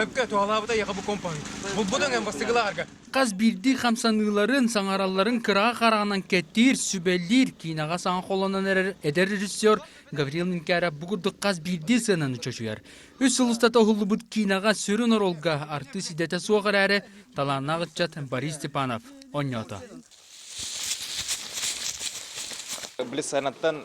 Өпкө туһалаабыта яха бу компаны. Булбутун эм бастыгылаарга. Хас биирдии хамсаныыларын, саҥаралларын кыраҕа хараҕынан кэттиир, сүбэлиир, киинэҕэ саҥа холонон эрэр эдэр режиссер Гаврил Минкяров бу курдук хас биирдии сыананы чочуйар. Үс сыл устата уһуллубут киинэҕэ сүрүн оруолга артыыс идэтэ суох эрээри, талааннаах ыччат Борис Степанов онньоото. Блиц сайынаттан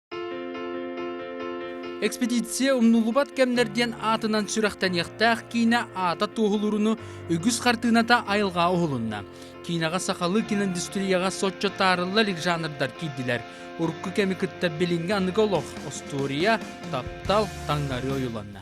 Экспедиция умнулубат кэмнэр диэн аатынан сүрэхтэниэхтээх киинэ аата туоһулууруну үгүс хартыыната айылҕаҕа уһулунна. Киинэҕэ сахалыы киноиндустрияҕа соччо таарылла илик жанрдар киирдилэр. Урукку кэми кытта билиҥҥи аныгы олох, остуоруйа, таптал, таҥнарыы ойуланна.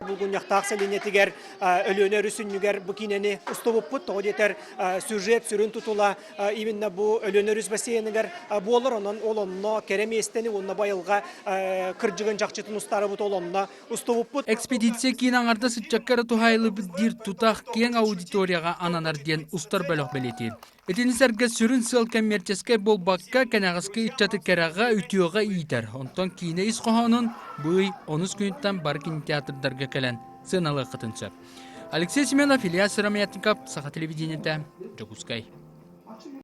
Булгунньахтаах сэлиэнньэтигэр Өлүөнэ өрүсүнньүгэр бу киинэни устубуппут. Тоҕо диэтэр, сюжет сүрүн тутула именно бу Өлүөнэ өрүс бассейныгар буолар. Онон ол онно кэрэ миэстэни уонна бу айылҕа кырдьыгын чахчытын устаарыбыт ол онно устубуппут. Экспедиция киин аҥарда сыччакка эрэ туһаайыллыбыт диир тутах киэҥ аудиторияҕа ананар диэн устар бөлөх бэлиэтиир. Итини сэргэ сүрүн сыал кэммиэрчэскэй буолбакка, кэнэҕэски ыччаты кэрэҕэ, үтүөҕэ иитэр. Онтон киинэ ис хоһоонун быый онус күнүттэн бары кинотеатрдарга кэлэн сыаналыаххытын сөп. Алексей Семенов, Илья Сыромятников, Саха телевидениетэ, Дьокуускай.